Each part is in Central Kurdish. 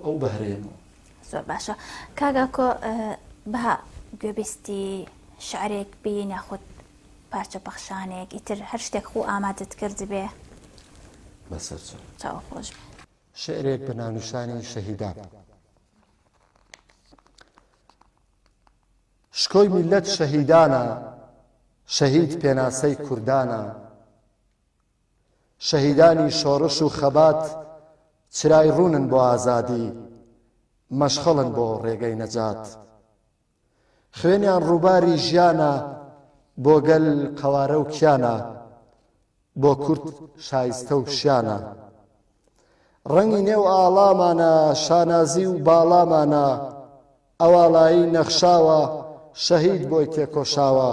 ئەو بەهرەیە بوو. زۆر باشە کاک ئاکۆ بەها گوێبیستی شعرێک بین یاخود پارچە پەخشانێک ئیتر هەر شتێک خۆ ئامادەت کردبێ بەسەرچوو چاو خۆش بێ شعرێک بە ناونیشانی شەهیدان شکۆی میلەت شەهیدانە شەهید پێناسەی کوردانە شەهیدانی شۆڕش و خەبات چرای ڕوونن بۆ ئازادی، مەشخەڵن بۆ ڕێگەی نەجات. خوێنیان ڕووباری ژیانە بۆ گەل قەوارە و کیانە، بۆ کورد شایستە و شیانە. ڕەنگی نێو ئاڵامانە شانازی و باڵامانە، ئەواڵایی نەخشاوە شەهید بۆی تێکۆشاوە.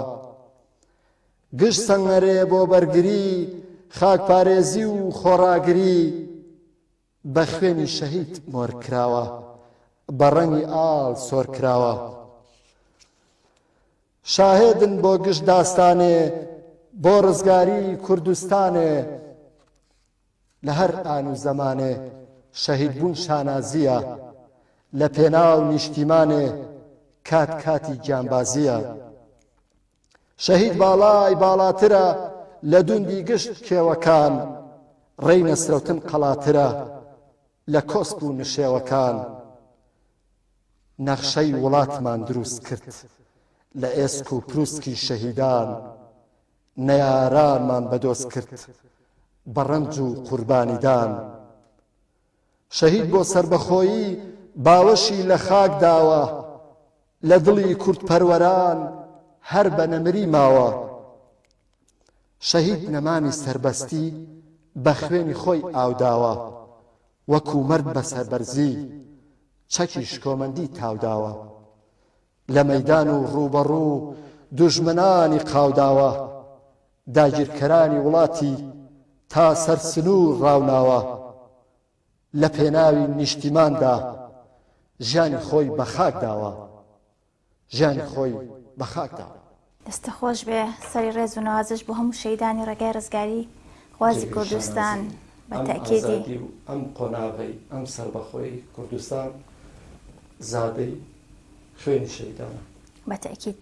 گشت سەنگەرێ بۆ بەرگری، خاکپارێزی و خۆڕاگری بە خوێنی شەهید مۆر کراوە، بە ڕەنگی ئاڵ سۆر کراوە. شاهێدن بۆ گشت داستانێ، بۆ ڕزگاری کوردستانێ، لە هەر ئان و زەمانێ شەهیدبوون شانازییە، لە پێناو نیشتیمانێ کات کاتی گیانبازییە. شەهید باڵای باڵاترە لە دوندی گشت کێوەکان، ڕێی نەسرەوتن قەڵاترە لە کۆسپ و نشێوەکان. نەخشەی وڵاتمان دروست کرد لە ئێسک و پروسکی شەهیدان، نەیارانمان بەدۆز کرد بە ڕەنج و قوربانیدان شەهید بۆ سەربەخۆیی باوەشی لە خاک داوە لە دڵی کوردپەروەران هەر بە نەمری ماوە شەهید نەمامی سەربەستی بە خوێنی خۆی ئاوداوە وەکو مەرد بە سەربەرزی چەکی شکۆمەندی تاوداوە لە مەیدان و ڕووبەڕوو دوژمنانی قاوداوە، داگیرکەرانی وڵاتی تا سەر سنوور ڕاوناوە، لە پێناوی نیشتیماندا ژیانی خۆی بە خاک داوە. دەستت خۆش بێ سەری ڕێز و نوازش بۆ هەموو شەیدانی ڕێگای ڕزگاری خوازی کوردستان بە تاکیدی ئەم قۆناغی ئەم سەربەخۆی کوردستان زادەی خوێنی شەیدانە بە تاکید.